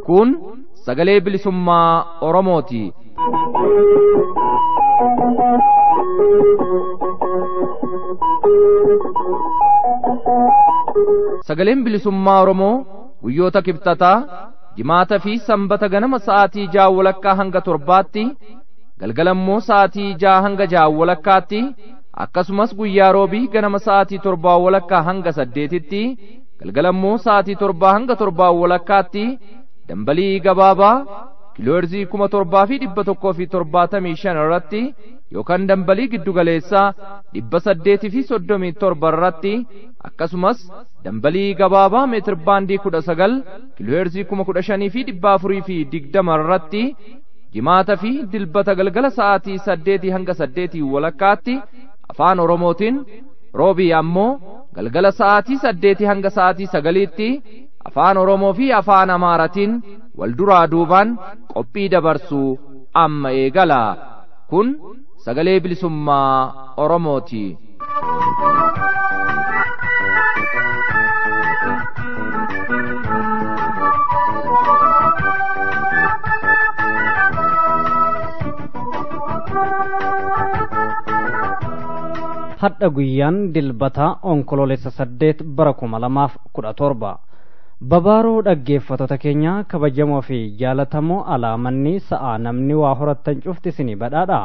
Kun sagalee bilisummaa Oromooti. Sagaleen bilisummaa Oromoo guyyoota kibxataa jimaata fi sanbata ganama sa'aatii ja'a walakkaa hanga torbaatti galgala immoo sa'aatii ja'a hanga ja'a walakkaatti akkasumas guyyaa roobii ganama sa'aatii torbaa walakkaa hanga saddeetitti galgala immoo sa'aatii torbaa hanga torbaa walakkaatti dambalii gabaabaa kiiloorzii kuma torbaa fi dhibba tokkoo fi torbaatamii shan irratti yookaan dambalii giddugaleessaa dhibba saddeetii fi soddomii torba irratti akkasumas dambalii gabaabaa meetir baandii kudha sagal kiloheerzii kuma kudha shanii fi dhibba afurii fi digdama irratti jimaata fi dilbata galgala sa'aatii saddeetii hanga saddeetii walakkaatti afaan oromootiin roobii ammoo galgala sa'aatii saddeetii hanga sa'aatii sagaliitti afaan oromoo fi afaan amaaratiin wal duraa duubaan qophii dabarsuu amma eegala kun sagalee bilisummaa oromooti. hadha guyyaan dilbataa onkoloolessa saddeet bara kuma lamaaf kudha torba babaaroo dhaggeeffatota keenya kabajamoo fi jaalatamoo alaamanni sa'aa namni waa horattan cufti isinii badhaadha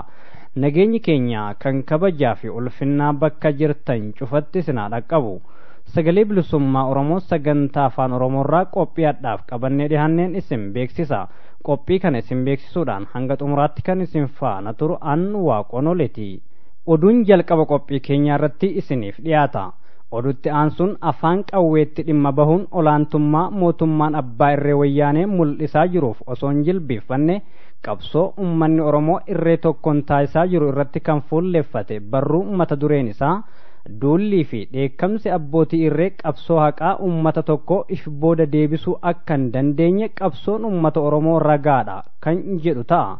Nageenyi keenya kan kabajaa fi ulfinnaa bakka jirtan cufatti isin haa dhaqqabu. Sagalee Bilisummaa Oromoo sagantaa Afaan Oromoorraa qophii hadhaaf qabannee dhihaanneen isin beeksisa. Qophii kana isin beeksisuudhaan hanga xumuraatti kan isin faana turu an Waaqonoleeti. Oduun jalqaba qophii keenyaa irratti isiniif dhiyaata. Oduutti aansuun afaan qawweetti dhimma bahuun olaantummaa mootummaan abbaa irree wayyaanee mul'isaa jiruuf osoo hin jilbiiffanne qabsoo ummanni oromoo irree tokkoon taasisaa jiru irratti kan fuulleffate barruu mata dureen isaa duullii fi dheekkamsi abbootii irree qabsoo haqaa ummata tokko if booda deebisuu akka hin dandeenye qabsoon ummata oromoo ragaadha kan jedhu ta'a.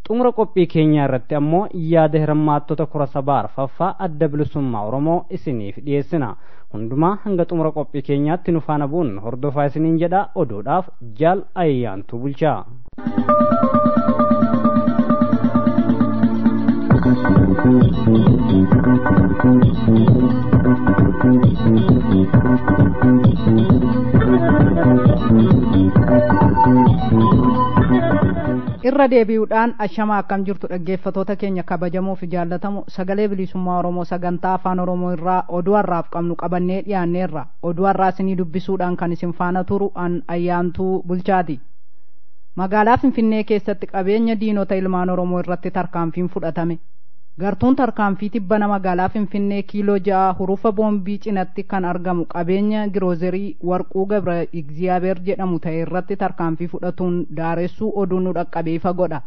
xumura qophii keenyaa irratti ammoo yaada hirmaattota kora sabaa arfaffaa adda bilisummaa oromoo isiniif dhiyeessina hundumaa hanga xumura qophii keenyaatti nu faana bu'uun hordofaa isiniin jedha oduudhaaf jaal ayyaantu bulchaa. irra deebi'uudhaan ashamaa akkam jirtu dhaggeeffatoota keenya kabajamoo fi jaallatamu sagalee bilisummaa oromoo sagantaa afaan oromoo irraa oduu har'aaf qabnu qabannee dhiyaanneerra oduu har'aa isinii dubbisuudhaan kan isin faana turu an ayyaantuu bulchaati magaalaa finfinnee keessatti qabeenya diinota ilmaan oromoo irratti tarkaanfiin fudhatame gartuun tarkaanfii tibbana magaalaa finfinnee kiiloo ja'a hurufa boombii cinatti kan argamu qabeenya giroozerii warquu gabra igziyaabeer jedhamu ta'e irratti tarkaanfii fudhatuun daaressuu oduun nu dhaqqabee ifa godha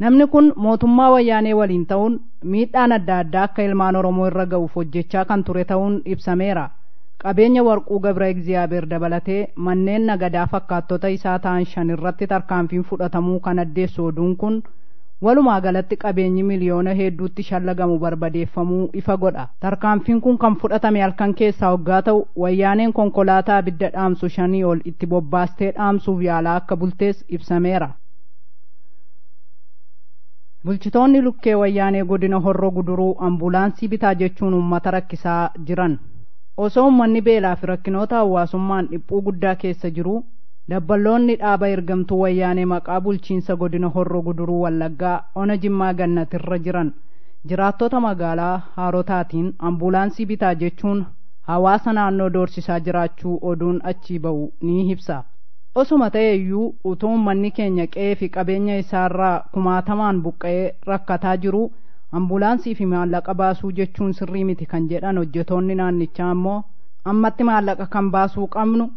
namni kun mootummaa wayyaanee waliin ta'uun miidhaan adda addaa akka ilmaan oromoo irra ga'uuf hojjechaa kan ture ta'uun ibsameera qabeenya Warquu Gabra'egziyaabeer dabalatee manneen nagadaa fakkaattota isaa ta'an shan irratti tarkaanfiin fudhatamuu kan addeessu oduun kun, walumaa galatti qabeenyi miliyoona heedduutti shallagamu barbadeeffamuu ifa godha. Tarkaanfiin kun kan fudhatame halkan keessaa hoggaa ta'u, Wayyaaneen konkolaataa abidda dhaamsu shanii ol itti bobbaastee dhaamsuuf yaalaa akka bultees ibsameera. Bulchitoonni Lukkee Wayyaanee Godina Horro Guduruu Ambulaansii bitaa jechuun uummata rakkisaa jiran. Osoo ummanni beelaafi rakkinoota hawaasummaan dhiphuu guddaa keessa jiruu, dabballoonni dhaaba ergamtuu Wayyaanee maqaa bulchiinsa godina Horro Guduruu Wallaggaa ona Jimmaa Gannat irra jiran jiraattota magaalaa Haarotaatiin ambuulaansii bitaa jechuun hawaasa naannoo doorsisaa jiraachuu oduun achii ba'u ni ibsa. Osuma ta'eyyuu utuu ummanni keenya qe'eefi qabeenya isaarraa kumaatamaan buqqa'ee rakkataa jiruu, ambulaansii fi maallaqa baasuu jechuun sirrii miti kan jedhan hojjetoonni naannichaa ammoo ammatti maallaqa kan baasuu qabnu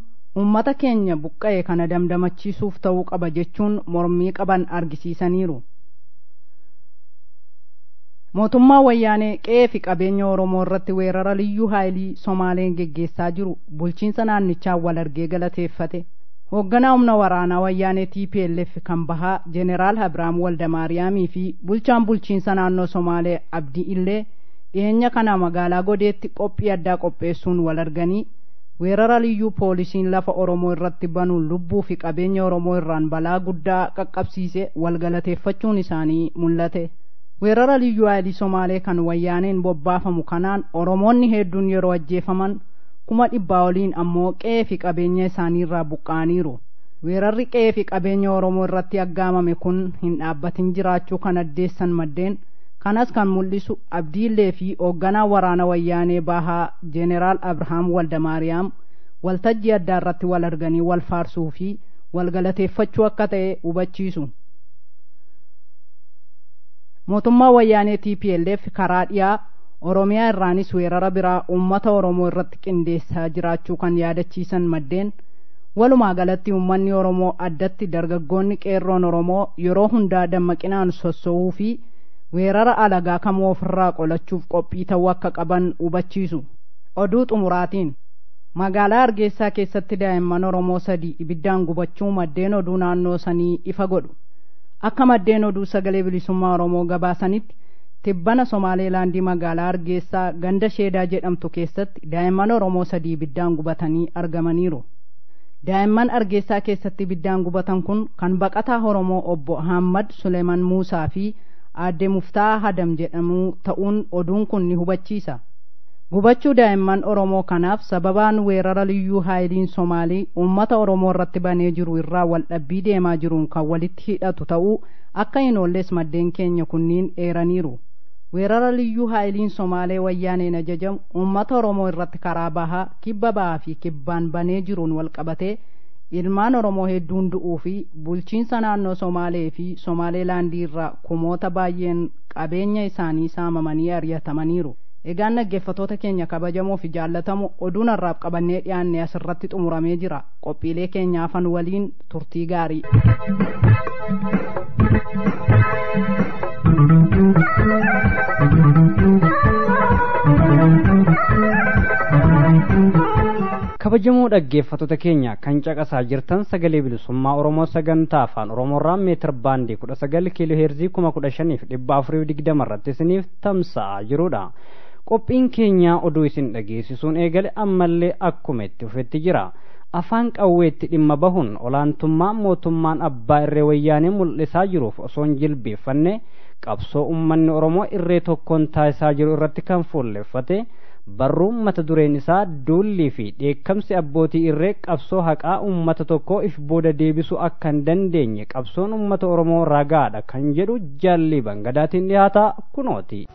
uummata keenya buqqa'e kana damdamachiisuuf ta'uu qaba jechuun mormii qaban argisiisaniiru. mootummaa wayyaanee qe'ee fi qabeenya oromoo irratti weerara liyyuu haayilii somaaleen geggeessaa jiru bulchiinsa naannichaa wal argee galateeffate Hoogganaa humna waraanaa wayyaanee tplf kan bahaa Jeneraal Habiraam Waldamaariyaamii fi bulchaan bulchiinsa naannoo Somaalee Abdii Illee dhiheenya kana magaalaa Godeetti qophii addaa qopheessuun wal arganii weerara liyyuu poolisiin lafa Oromoo irratti banuun lubbuu fi qabeenya Oromoo irraan balaa guddaa qaqqabsiise wal galateeffachuun isaanii mul'ate. Weerara liyyuu haayilii Somaalee kan wayyaaneen bobbaafamu kanaan Oromoonni heedduun yeroo ajjeefaman kuma dhibbaa oliin ammoo qe'ee fi qabeenya isaaniirraa buqqa'aniiru. Weerarri qe'ee fi qabeenya Oromoo irratti aggaamame kun hin dhaabbatin jiraachuu kan addeessan maddeen kanas kan mul'isu abdiillee fi hoogganaa waraana wayyaanee bahaa Jeneraal Abrahaam Waldamaariyaam waltajjii addaa irratti wal arganii wal faarsuu fi wal galateeffachuu akka ta'e hubachiisu. Mootummaa wayyaanee TPLF karaa dhiyaa Oromiyaa irraanis weerara biraa uummata Oromoo irratti qindeessaa jiraachuu kan yaadachiisan maddeen, walumaa galatti uummanni Oromoo addatti dargaggoonni qeerroon Oromoo yeroo hundaa dammaqinaan sosso'uu fi weerara alagaa kamuu ofirraa qolachuuf qophii ta'uu akka qaban hubachiisu. Oduu xumuraatiin. Magaalaa Hargeessaa keessatti daa'imman Oromoo sadi ibiddaan gubachuu maddeen oduu naannoo sanii ifa godhu. Akka maddeen oduu sagalee bilisummaa Oromoo gabaasanitti Tibbana Somaaleelaandi magaalaa Hargeessaa ganda Sheedaa jedhamtu keessatti daa'imman Oromoo sadii ibiddaan gubatanii argamaniiru. Daa'imman Hargeessaa keessatti ibiddaan gubatan kun kan baqataa Oromoo Obbo Ahaammad Suleeman Muusaa fi Aadde Muftaaha Hadam jedhamuu ta'uun oduun kun ni hubachiisa. Gubachuu daa'imman Oromoo kanaaf sababaan weerara Liyyuu Haayiliin Somaalii uummata Oromoo irratti banee jiru irraa waldhabbii deemaa jiruun kan walitti hidhatu ta'uu akka hin oolles maddeen keenya kunniin eeraniiru. Weerara Liyyuu Haayiliin Somaalee Wayyaaneen ajajamu uummata Oromoo irratti karaa Baha, Kibba Bahaa fi Kibbaan banee jiruun walqabatee ilmaan Oromoo hedduun du'uu fi bulchiinsa naannoo Somaalee fi Somaalee Laandii irraa kumoota baay'een qabeenya isaanii saamamanii ariyatamaniiru. Egaan dhaggeeffatoota keenya kabajamoo fi jaallatamoo oduun har'aaf qabannee dhiyaanne asirratti xumuramee jira. Qophiilee keenya hafan waliin turtii gaarii. kabajamoo dhaggeeffattoota keenya kan caqasaa jirtan sagalee bilisummaa oromoo sagantaa afaan oromoorraa meetir baandii kudha sagal kiiloo heerzii kuma kudha shaniif dhibba afurii digdama irratti isiniif tamsa'aa jirudha qophiin keenya oduu isin dhageessisuun eegale ammallee akkuma itti fufetti jira afaan qawweetti dhimma bahuun olaantummaa mootummaan abbaa irree wayyaanee mul'isaa jiruuf osoo hin jilbeeffanne qabsoo ummanni oromoo irree tokkoon taasisaa jiru irratti kan fuulleffate barruu mata dureen isaa duullii fi dheekkamsi abbootii irree qabsoo haqaa ummata tokkoo if booda deebisuu akka hin dandeenye qabsoon ummata oromoo ragaadha kan jedhu jaallii bangadaatiin dhihaataa kunooti.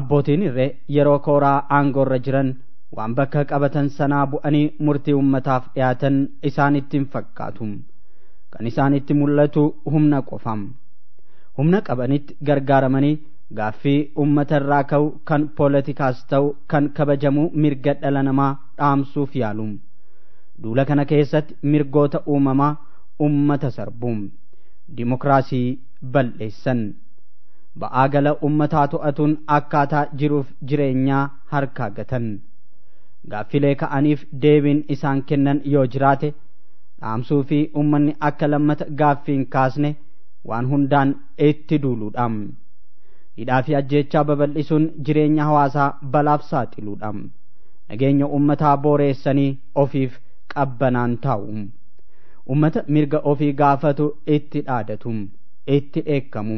abbootiin irree yeroo kooraa aangoorra jiran waan bakka qabatan sanaa bu'anii murtii ummataaf dhiyaatan isaanitti hin fakkaatu kan isaanitti mul'atu humna qofa humna qabanitti gargaaramanii gaaffii ummata irraa ka'u kan poolitikaas ta'u kan kabajamuu mirga dhala namaa dhaamsuuf yaalu. Duula kana keessatti mirgoota uumamaa ummata sarbu. Dimokiraasii bal'eessan. Ba'aa gala ummataa to'atuun akkaataa jiruuf jireenyaa harkaa gatan. Gaaffilee ka'aniif deebiin isaan kennan yoo jiraate dhaamsuu fi ummanni akka lammata gaaffii hin kaasne waan hundaan itti duuluudha. Hidhaa fi ajjeechaa babal'isuun jireenya hawaasaa balaaf saaxiluudha. nageenya ummataa booreessanii ofiif qabbanaan taa'u. Ummata mirga ofii gaafatu itti dhaadatu, itti dheekkamu.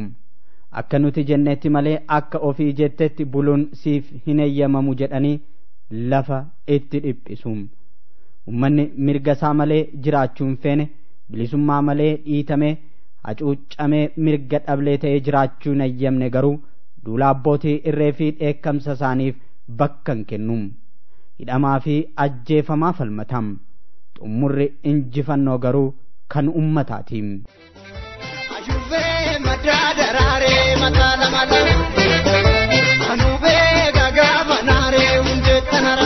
Akka nuti jennetti malee akka ofii jettetti buluun siif hin eeyyamamu jedhanii lafa itti dhiphisu. Ummanni mirga isaa malee jiraachuu hin feene, bilisummaa malee dhiitamee, hacuuccamee mirga dhablee ta'ee jiraachuu hin eeyyamne garuu duula abbootii irree fi dheekkamsa isaaniif bakka hin kennu. Hidhamaa fi ajjeefamaa falmata. Xummurri injifannoo garuu kan ummataati. Ayubee maddaa daraaree mataa lama lama. Anubee gagaa banaaree hundee tanara.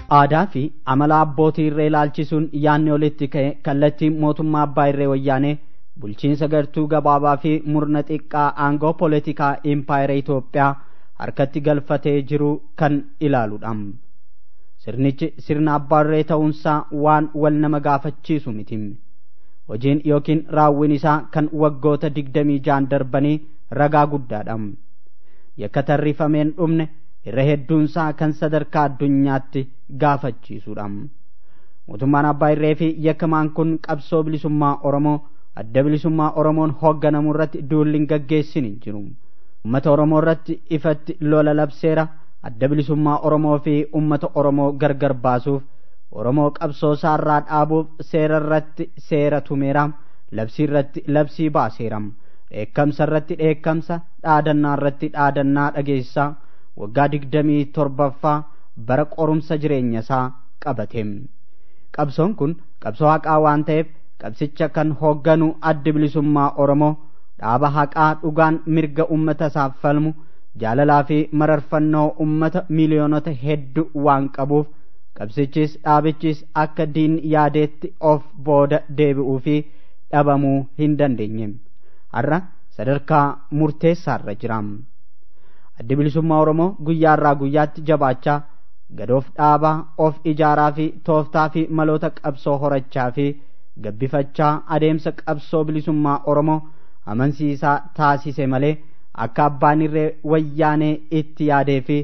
Aadaa fi amala abbootii irree ilaalchisuun yaadni olitti ka'e kallattiin mootummaa abbaa irree wayyaanee bulchiinsa gartuu gabaabaa fi murna xiqqaa aangoo poolitikaa impaayera Itoophiyaa harkatti galfatee jiru kan ilaaludha. Sirnichi sirna abbaa irree ta'uunsaa waan wal nama gaafachiisu miti. Hojiin yookiin raawwiin isaa kan waggoota digdamii jaan darbanii ragaa guddaadha. Yakka tarrifameen dhumne irra hedduunsaa kan sadarkaa addunyaatti gaafachiisuudha. Mootummaan abbaa irree fi yakkamaan kun qabsoo bilisummaa Oromoo adda bilisummaa Oromoon hoogganamu irratti duulli hin gaggeessin hin jiru. Uummata Oromoo irratti ifatti lola labseera adda bilisummaa Oromoo fi uummata Oromoo gargar baasuuf Oromoo qabsoo isaarraa dhaabuuf seera irratti seera tumeera labsii irratti labsii baaseera dheekkamsa irratti dheekkamsa dhaadannaa irratti dhaadannaa dhageessisaa waggaa digdamii torbaffaa bara qorumsa jireenya isaa qabate qabsoon kun qabsoo haqaa waan ta'eef qabsicha kan hoogganu addi bilisummaa oromoo dhaaba haqaa dhugaan mirga ummata isaaf falmu jaalalaa fi mararfannoo ummata miiliyoonota heddu waan qabuuf qabsichis dhaabichis akka diin yaadeetti of booda deebi'uu fi dhabamuu hin dandeenye har'a sadarkaa murteessaarra jira. Addi Bilisummaa Oromoo guyyaarraa guyyaatti jabaachaa, gad of dhaabaa, of ijaaraa fi tooftaa fi maloota qabsoo horachaa fi gabbifachaa adeemsa qabsoo bilisummaa Oromoo amansiisaa taasise malee akka abbaan irree wayyaanee itti yaadee fi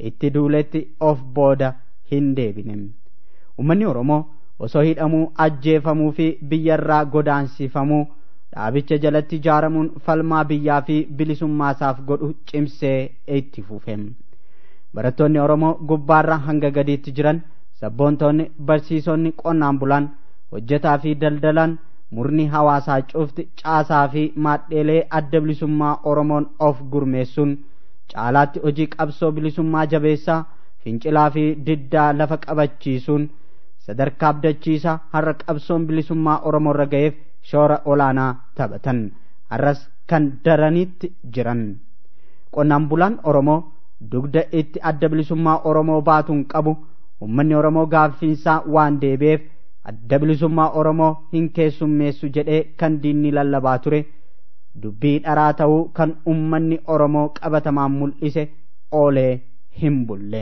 itti duuletti of booda hin deebine. Uummanni Oromoo osoo hidhamuu, ajjeefamuu fi biyyarraa godaansifamuu dhaabicha jalatti ijaaramuun falmaa biyyaa fi bilisummaa isaaf godhu cimsee itti fufe barattoonni oromoo gubbaarra hanga gadiitti jiran sabboontoonni barsiisonni qonnaan bulaan hojjetaa fi daldalaan murni hawaasaa cufti caasaa fi maadheelee adda bilisummaa oromoon of gurmeessuun caalaatti hojii qabsoo bilisummaa jabeessaa fincilaa fi diddaa lafa qabachiisuun sadarkaa abdachiisaa har'a qabsoon bilisummaa oromoo irra ga'eef shoora olaanaa taphatan har'as kan daranitti jiran. Qonnaan bulaan Oromoo dugda itti adda bilisummaa Oromoo baatuun qabu ummanni Oromoo gaaffiinsaa waan deebi'eef adda bilisummaa Oromoo hin keessummeessu jedhee kan diinni lallabaa ture dubbii dharaa ta'uu kan ummanni Oromoo qabatamaan mul'ise oolee hin bulle.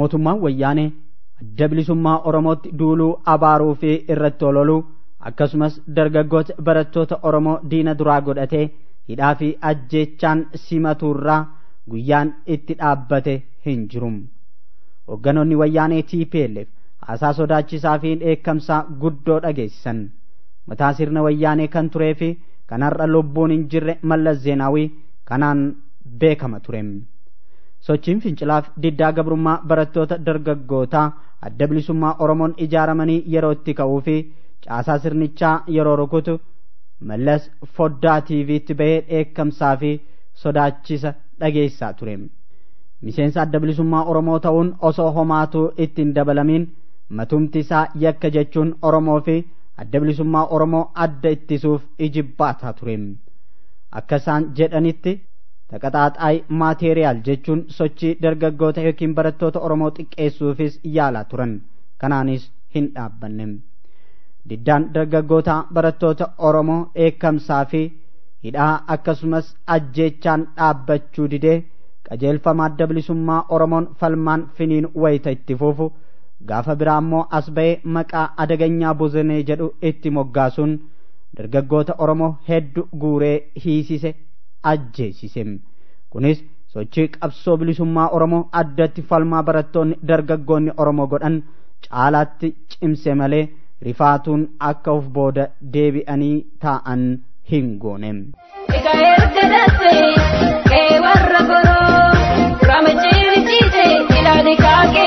mootummaan wayyaanee adda bilisummaa oromootti duuluu abaaruu fi irratti ololuu akkasumas dargaggoota barattoota oromoo diina duraa godhatee hidhaa fi ajjeechaan simatuurraa guyyaan itti dhaabbate hin jiru hogganoonni wayyaanee tplf haasaa sodaachisaa fi dheekkamsaa guddoo dhageessisan mataa sirna wayyaanee kan turee fi kan har'a lubbuun hin jirre mallas zeenaawii kanaan beekama ture. Sochiin fincilaaf diddaa gabrummaa barattoota dargaggootaa adda bilisummaa Oromoon ijaaramanii yeroo itti ka'uu fi caasaa sirnichaa yeroo rukutu Mallas foddaa TV'tti bahee dheekkamsaa fi sodaachisa dhageessisaa ture. Miseensa adda bilisummaa Oromoo ta'uun osoo homaatuu itti hin dabalamiin matumti isaa yakka jechuun Oromoo fi adda bilisummaa Oromoo adda ittisuuf ijibbaataa ture. Akka isaan jedhanitti Taqaxaaxaay maateeriyaal jechuun sochii dargaggoota yookiin barattoota Oromoo xiqqeessuufis yaalaa turan. Kanaanis hin dhaabbanne. Diddaan dargaggoota barattoota Oromoo dheekkamsaa fi hidhaa akkasumas ajjeechaan dhaabbachuu didee qajeelfama adda bilisummaa Oromoon falmaan finiin wayita itti fuufu gaafa biraa immoo as ba'ee maqaa adaganyaa bozenee jedhu itti moggaasuun dargaggoota Oromoo heddu guuree hiisise ajjeesise. Kunis sochii qabsoo bilisummaa Oromoo addatti falmaa barattoonni dargaggoonni Oromoo godhan caalaatti cimse malee rifaatuun akka of booda deebi'anii taa'an hin goone. Ega erga darbee kee warra goroo, rama ciirichiise ilaali kaakee.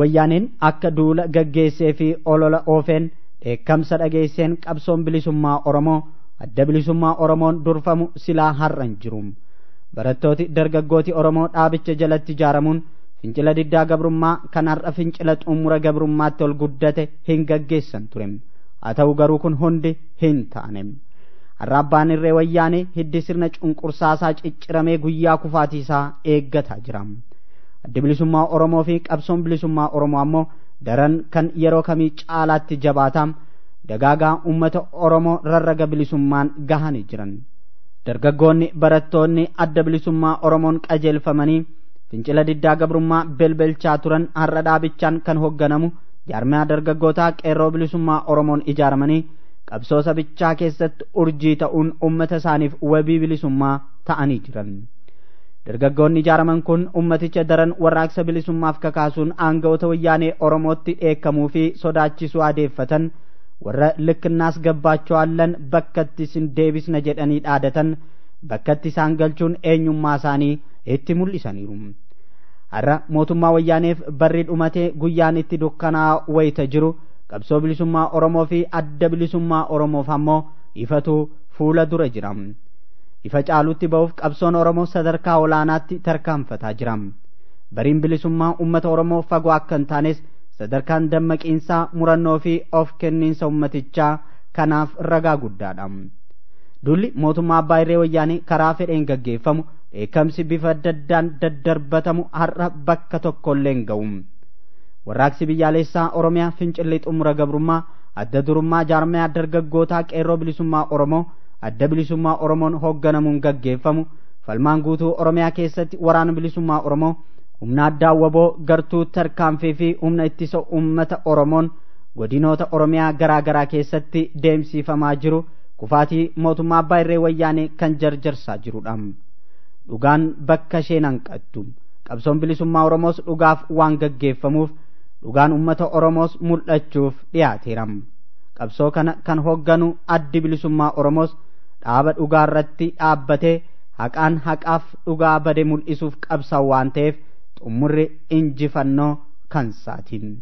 wayyaaneen akka duula gaggeessee fi olola oofeen dheekkamsa dhageesseen qabsoon bilisummaa oromoo adda bilisummaa oromoon durfamu silaa har'a hin jiru barattooti dargaggooti oromoo dhaabicha jalatti ijaaramuun fincila diddaa gabrummaa kan har'a fincila xumura gabrummaatti ol guddate hin gaggeessan ture haa ta'u garuu kun hundi hin taane har'a abbaan irree wayyaanee hiddi sirna cunqursaasaa cicciramee guyyaa kufaatiisaa eeggataa jira addi bilisummaa oromoo fi qabsoon bilisummaa oromoo ammoo daran kan yeroo kamii caalaatti jabaataa dagaagaa ummata oromoo rarraga bilisummaan gahanii jiran dargaggoonni barattoonni adda bilisummaa oromoon qajeelfamanii fincila diddaa gabrummaa belbelchaa turan har'a dhaabichaan kan hoogganamu jaarmiyaa dargaggootaa qeerroo bilisummaa oromoon ijaaramanii qabsoo sabichaa keessatti urjii ta'uun ummata isaaniif wabii bilisummaa ta'anii jiran. dargaggoonni ijaaraman kun ummaticha daran warraaqsa bilisummaaf kakaasuun aanga'oota wayyaanee oromootti dheekkamuu fi sodaachisuu adeeffatan warra likkinnaas gabbaachoo allan bakkatti isin deebisna jedhanii dhaadatan bakkatti isaan galchuun eenyummaa isaanii itti mul'isaniiru. Har'a mootummaa wayyaaneef barri dhumatee guyyaan itti dukkanaa wayita jiru qabsoo bilisummaa Oromoo fi adda bilisummaa Oromoof ammoo ifatu fuula dura jira. Ifa caalutti ba'uuf qabsoon Oromoo sadarkaa olaanaatti tarkaanfataa jira. Bariin bilisummaa uummata Oromoo fagoo akka hin taanes sadarkaan dammaqiinsaa murannoo fi of kenniinsa uummatichaa kanaaf ragaa guddaadha. Duulli mootummaa abbaa irree wayyaanee karaa fedheen gaggeeffamu dheekkamsi bifa adda addaan daddarbatamu har'a bakka tokkollee hin ga'u. Warraaqsi biyyaalessaa Oromiyaa fincilli xumura gabrummaa adda durummaa jaarmayaa dargaggootaa qeerroo bilisummaa Oromoo adda bilisummaa oromoon hoogganamuun gaggeeffamu falmaan guutuu oromiyaa keessatti waraana bilisummaa oromoo humna addaa waboo gartuu tarkaanfii fi humna ittisa uummata oromoon godinoota oromiyaa garaa garaa keessatti deemsifamaa jiru kufaatii mootummaa abbaa irree wayyaanee kan jarjarsaa jirudha dhugaan bakka isheen hanqattu qabsoon bilisummaa oromoos dhugaaf waan gaggeeffamuuf dhugaan ummata oromoos mul'achuuf dhiyaateera qabsoo kana kan hoogganu addi bilisummaa oromoos dhaaba dhugaa irratti dhaabbatee haqaan haqaaf dhugaa bade mul'isuuf qabsa waan ta'eef xumurri injifannoo kan saatiin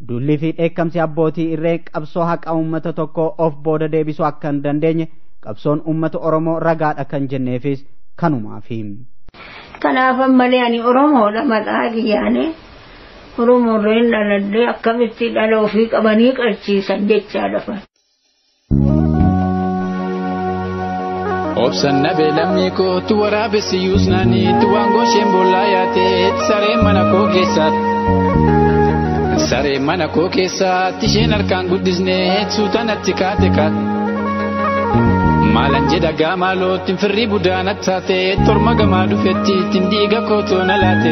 dullii fi dheekkamsi abbootii irree qabsoo haqa uummata tokkoo of booda deebisuu akka hin dandeenye qabsoon uummata oromoo ragaadha kan jenneefis kanumaafi. Kanaaf ammalee ani Oromoodha maqaa kiyyaanee. Oromoorreen dhaladhee akkamitti dhala ofii qabanii qalchiisan jechaa lafa. Obsan nabe lammii koo tu waraabessi yuusnaanii tu waangoo isheen boollaa yaatee saree mana koo keessaatti. Saree mana koo keessaatti isheen harkaan guddisnee suutanatti kaate kaate. Maalan jedha gaamaalootti firrii budaana taate torma gamaa dhufetti ittiin dhiiga koo toona laate.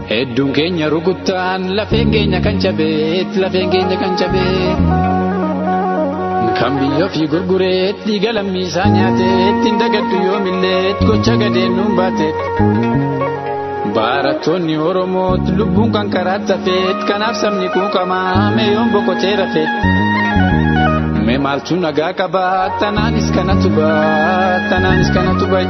Hedduun keenya rukuttaan lafeen keenya kan cabeet lafeen keenya kan cabeet. Kan biyya ofii gurgureet dhiiga lammii isaa nyaateet hin dagaddu yoomilleet gocha gadeen nuun baateet. Barattoonni Oromoot lubbuun kan karaa tafeet kanaaf sabni quuqamaa meeyoon boqotee rafeet. Mee maaltu nagaa qabaa tanaanis kanatu baa tanaanis kanatu bayi.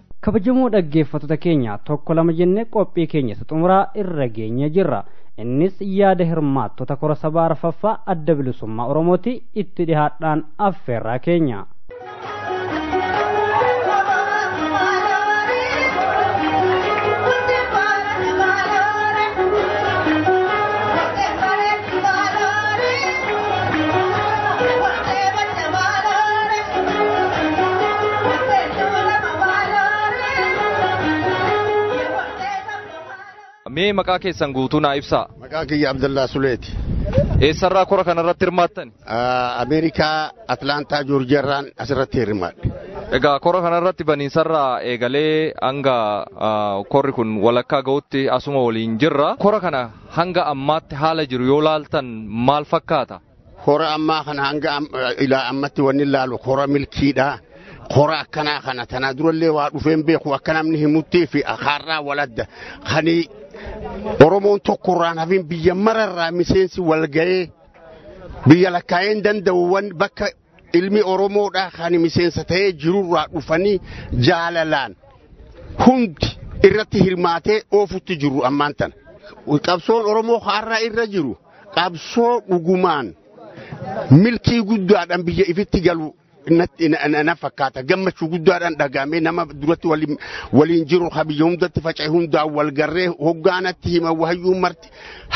kabajamoo dhaggeeffattoota keenya tokko lama jennee qophii keenya isa xumuraa irra geenye jirra innis yaada hirmaattota kora sabaa arfaffaa adda bilisummaa oromooti itti dhihaadhaan affeerraa keenya. Mee maqaa keessan guutuu naa ibsaa. Maqaa kiyya Abdallaa Suleeti. Eessarraa kora kanarratti hirmaattan? Ameerikaa Atlaantaa Joorjiyaarraan asirratti hirmaadhe. Egaa kora kanarratti baniinsarraa eegalee hanga korri kun walakkaa ga'utti asuma waliin jirra. Kora kana hanga ammaatti haala jiru yoo laaltan maal fakkaata? Hora ammaa kana hanga am- ilaa ammatti wanni ilaalu hora milkiidha. Hora akkanaa kana tanaa durallee waa dhufeen beeku akka namni himuttii fi akaarraa waladda. Kani Oromoon tokko irraan hafin biyya mararraa miseensi wal ga'ee biyya lakkaa'een danda'uwwan bakka Ilmi Oromoodhaa kan miseensa ta'ee jirurraa dhufanii jaalalaan hundi irratti hirmaatee oofutti jiru ammaan tana. Qabsoon Oromoo har'a irra jiru qabsoo dhugumaan milkii guddaadhaan biyya ifitti galu na fakkaata gammachuu guddaadhaan dhagaamee nama duratti waliin jiru ha biyya hundatti faca'e hundaan wal garree hoggaanatti hima wahayyuu marti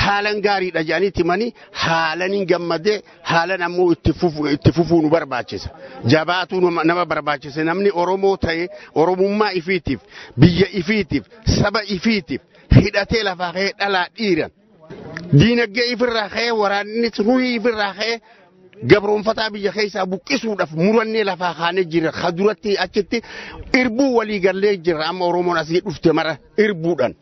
haalan gaariidha jedhanii timanii haalan hin gammadee haalan ammoo itti fufu- itti fufuu nu barbaachisa. Jabaatuu nama- nama barbaachisa. Namni Oromoo ta'e Oromummaa ifiitiif, biyya ifiitiif, saba ifiitiif hidhatee lafaa ka'ee dhalaa dhiiran. Diinagdee ifirraa ka'ee waraanni ruhii ifirraa ka'ee gabroonfataa biyya keessaa buqqisuudhaaf murannee lafaa kaanee jirra. Ka duratti achitti irbuu walii gallee jirra. Amma Oromoon asii dhufte mara irbuudhaan.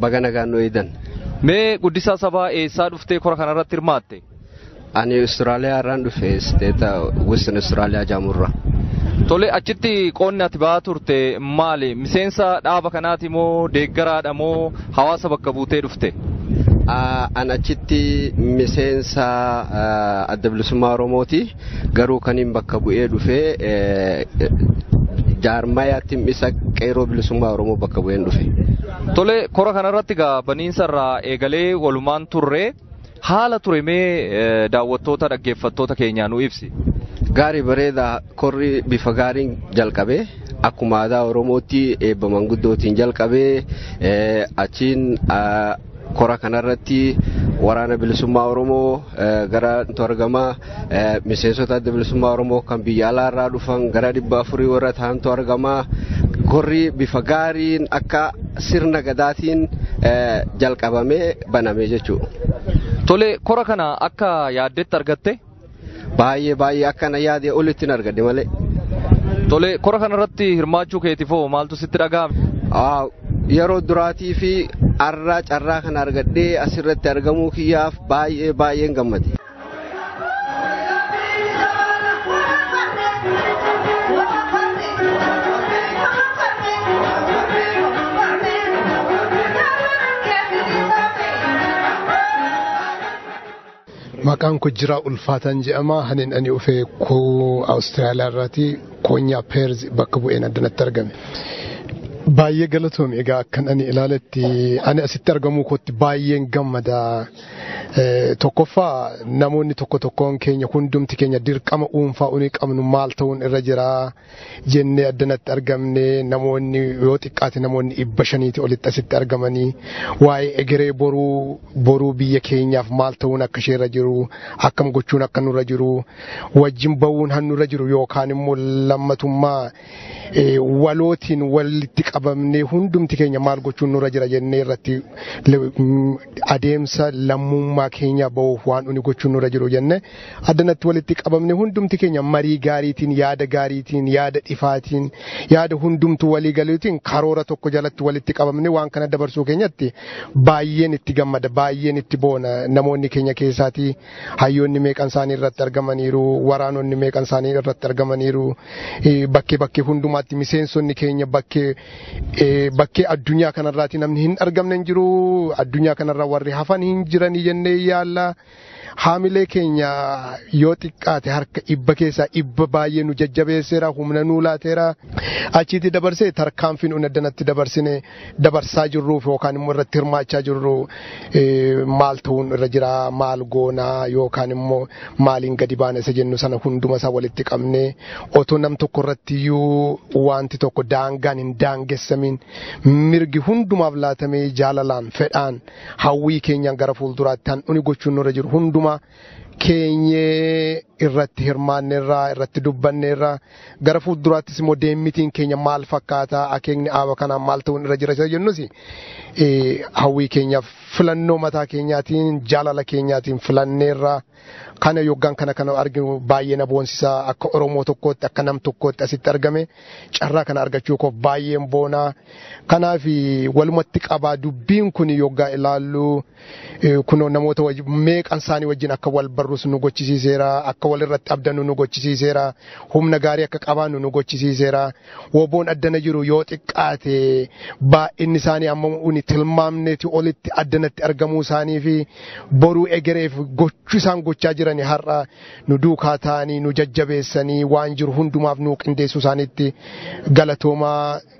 Baga nagaan nu eedan. Mee guddisaa sabaa eessaa dhuftee kora kanarratti hirmaatte? Ani Austraaliyaa irraan dhufe isteeta Western Austraaliyaa jaamurra. Tole achitti qoonni ati ba'aa turte maali? Miseensa dhaaba kanaati moo deeggaraadha moo hawaasa bakka buutee dhufte? An achitti miseensa adda bilisummaa Oromooti. Garuu kaniin bakka bu'ee dhufe jaarmaya tim'isa qeeroo bilisummaa Oromoo bakka bu'een dhufe. Tole kora kanarratti egaa baniinsa irraa eegalee walumaan turre haala ture mee daawwattoota dhaggeeffattoota keenyaa nu ibsi. Gaarii bareedaa korri bifa gaariin jalqabe akkuma aadaa Oromootti eebba manguddootiin jalqabe achiin Kora kanarratti waraana bilisummaa Oromoo gara argama miseensota adda bilisummaa Oromoo kan biyya alaa irraa dhufan gara dhibba afurii warra ta'antu argama. Korri bifa gaariin akka sirna gadaatiin jalqabamee baname jechuudha. Tole kora kana akka yaaddetti argatte? Baay'ee baay'ee akka na yaade olitti hin argadhe malee. Tole kora kanarratti hirmaachuu keetiif hoo maaltu sitti dhaga'ame? Yeroo duraatii fi har'a carraa kana argadhee asirratti argamuu kiyyaaf baay'ee baay'een gammade. Maqaan koo Jiraa Ulfaataan jedhama. Hanin ani dhufe Awustiraaliyaa irraati koonyaa Peerz bakka bu'een addanatti argame. Baay'ee galatoomi egaa akkan ani ilaaletti ani asitti argamuu kootti baay'een gammada. Tokkoffaa namoonni tokko tokkoon keenya hundumti keenya dirqama dhuunfaa unii qabnu maal ta'uun irra jira. jennee addanatti argamne namoonni yoo xiqqaate namoonni dhibba shaniiti olitti asitti argamanii waa'ee egeree boruu boruu biyya keenyaaf maal ta'uun akka isheerra jiru akkam gochuun akka nurra jiru wajjin ba'uun hannurra jiru yookaan immoo lammatummaa walootiin walitti qabamnee hundumti keenya maal gochuun nurra jira jennee irratti adeemsa lammummaa keenya ba'uuf waan nuti gochuun nurra jiru jenne addanatti walitti qabamne hundumti keenya marii gaariitiin yaada gaariitiin yaada ifaatiin yaada hundumtu walii galuutiin karoora tokko jalatti walitti qabamne waan kana dabarsuu keenyatti baay'een itti gammada baay'een itti boona namoonni keenya keessaatii hayyoonni meeqan isaanii irratti argamaniiru waraanonni meeqan isaanii irratti argamaniiru bakkee bakkee hundumaatti miseensonni keenya bakkee bakkee addunyaa kanarraati namni hin argamne hin jiru addunyaa kanarra warri hafan hin jiranii jennee yaalla haamilee keenya yoo xiqqaate harka dhibba keessaa dhibba baay'ee nu jajjabeesseera humna nuu laateera achiitti dabarsee tarkaanfiin unaddanatti dabarsine dabarsaa jirruuf yookaan immoo irratti hirmaachaa jirru maal ta'uun irra jira maal goonaa yookaan immoo maaliin gadi baana isa jennu sana hunduma isaa walitti qabne otoo nam tokko irratti iyyuu wanti tokko daangaan hin daangessamiin mirgi hundumaaf laatamee jaalalaan fedhaan hawwii keenyaan gara fuulduraatti handhuun gochuun nurra jiru hundumaa keenyee irratti hirmaanneerraa irratti dubbanneerraa gara fuulduraattis immoo deemmitiin keenya maal fakkaata akeekni aaba kanaa maal ta'uun irra jira isa jennus eh, hawwii keenyaaf filannoo mataa keenyaatiin jaalala keenyaatiin filanneerraa kana yoggaan kana kana arginu baay'ee na boonsisaa akka oromoo tokkootti akka nam tokkootti asitti argame carraa kana argachuu koof baay'een boonaa kanaaf walumatti qabaa dubbiin kun yoggaa ilaallu kunoo namoota meeqan isaanii wajjin akka wal barrus nu gochisiiseera akka wal irratti abdannu nu gochisiiseera humna gaarii akka qabaannu nu gochisiiseera woboon addana jiru yoo xiqqaate baay'inni isaanii amma uni tilmaamneeti olitti addanatti argamuu isaanii fi boruu egereef gochuu isaan gochaa jirani har'a nu duukaa ta'anii nu jajjabeessanii waan jiru hundumaaf nu qindeessuu isaaniitti galatoomaa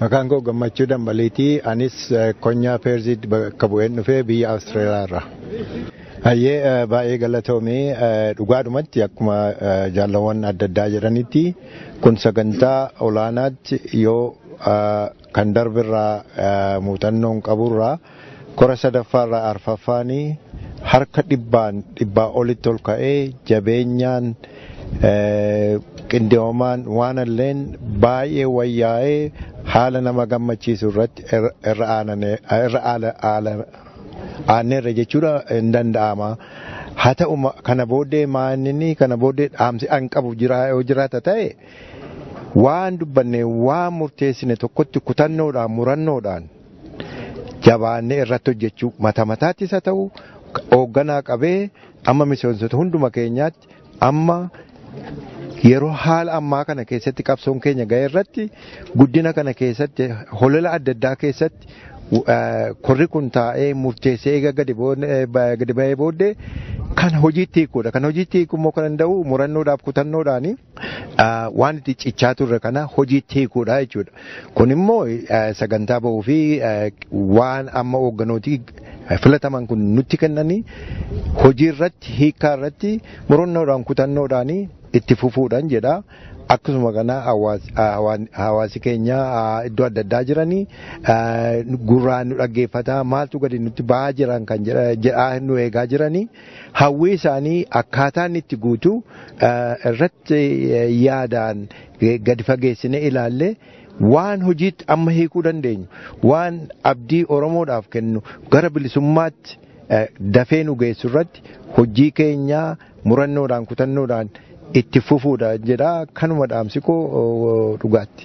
Maqaan koo gammachuu dambaliitii anis konyaa peerziid bakka bu'een dhufee biyya Awustiraaliyaa irraa. Hayyee baay'ee galatoomii dhugaadhumatti akkuma jaalawwan adda addaa jedhanitti kun sagantaa olaanaatti yoo kan darbirraa muuxannoon qaburraa Kora sadaffaarraa arfaffaan harka dhibbaan dhibbaa olitti ol ka'ee jabeenyaan qindoomaan waan illeen baay'ee wayyaa'ee haala nama gammachiisu irratti irra aanneerra jechuudha hin danda'ama. Haa ta'u kana booddee maalinni kana booddee dhaamsi an qabu yoo jiraata ta'e waan dubbanne waan murteessine tokkotti kutannoodhaan murannoodhaan jabaannee irratti hojjechuu mata mataattis haa ta'u hoogganaa qabee amma miseensota hunduma keenyaatti amma yeroo haala ammaa kana keessatti qabsoon keenya ga'e irratti guddina kana keessatti holola adda addaa keessatti korri kun taa'ee murteessee eega gadi ba'ee booddee kan hojiitti hiikuudha. Kan hojiitti hiiku immoo kan danda'u murannoodhaaf kutannoodhaani. waan itti cichaa turre kana hojiitti hiikuudha jechuudha. Kun immoo sagantaa bahuu fi waan amma hoogganooti filataman kun nutti kennanii hojii irratti hiikaa irratti murannoodhaan kutannoodhaan itti fufuudhaan jedha. Akkasuma kana hawaasi keenya iddoo adda addaa jiranii gurraan nu dhaggeeffata maaltu gadi nutti ba'aa jiran kan jedhaa nu eegaa jiranii. hawwii isaanii akkaataa inni itti guutu irratti yaadaan gadi fageessine ilaalle waan hojiitti amma hiikuu dandeenyu waan abdii Oromoodhaaf kennu gara bilisummaatti dafee nu geessu irratti hojii keenyaa murannoodhaan kutannoodhaan itti fufuudha jedha kanuma dhaamsikoo dhugaatti.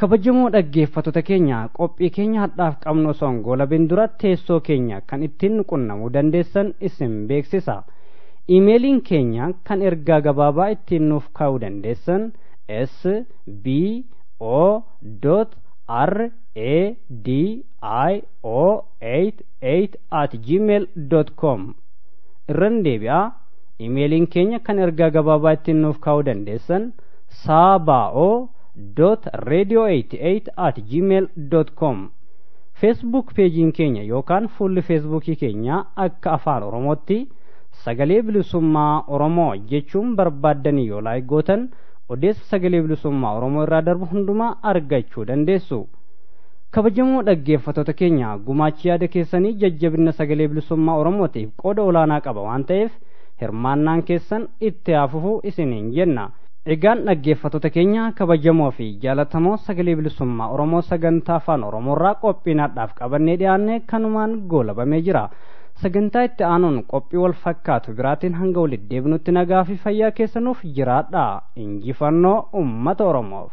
kabajamoo dhaggeeffattoota keenya qophii keenya hadhaaf qabnu osoo hin goolabin dura teessoo keenya kan ittiin nu qunnamuu dandeessan isin beeksisa iimeeliin keenya kan ergaa gabaabaa ittiin nuuf kaa'uu dandeessan s b o r a d i o 88 at gmail com irran deebi'aa iimeeliin keenya kan ergaa gabaabaa ittiin nuuf kaa'uu dandeessan saabaa'oo radio88 at gmail com feesbuuk peejiin keenya yookaan fuulli feesbuukii keenyaa akka afaan oromootti sagalee bilisummaa oromoo jechuun barbaaddanii yoo laayik gootan odeessa sagalee bilisummaa oromoo irraa darbu hundumaa argachuu dandeessu kabajamoo dhaggeeffattoota keenya gumaachi yaada keessanii jajjabinna sagalee bilisummaa oromootiif qooda olaanaa qaba waan ta'eef hirmaannaan keessan itti haafufu isiniin jenna Egaan dhaggeeffattoota keenya kabajamoo fi jaalatamoo sagalee bilisummaa Oromoo sagantaa afaan Oromoorraa qophiin har'aaf qabannee dhiyaanne kanumaan goolabamee jira. Sagantaa itti aanuun qophii wal fakkaatu biraatiin hanga walitti deebinutti nagaa fi fayyaa keessanuuf jiraadha. Injifannoo uummata Oromoof.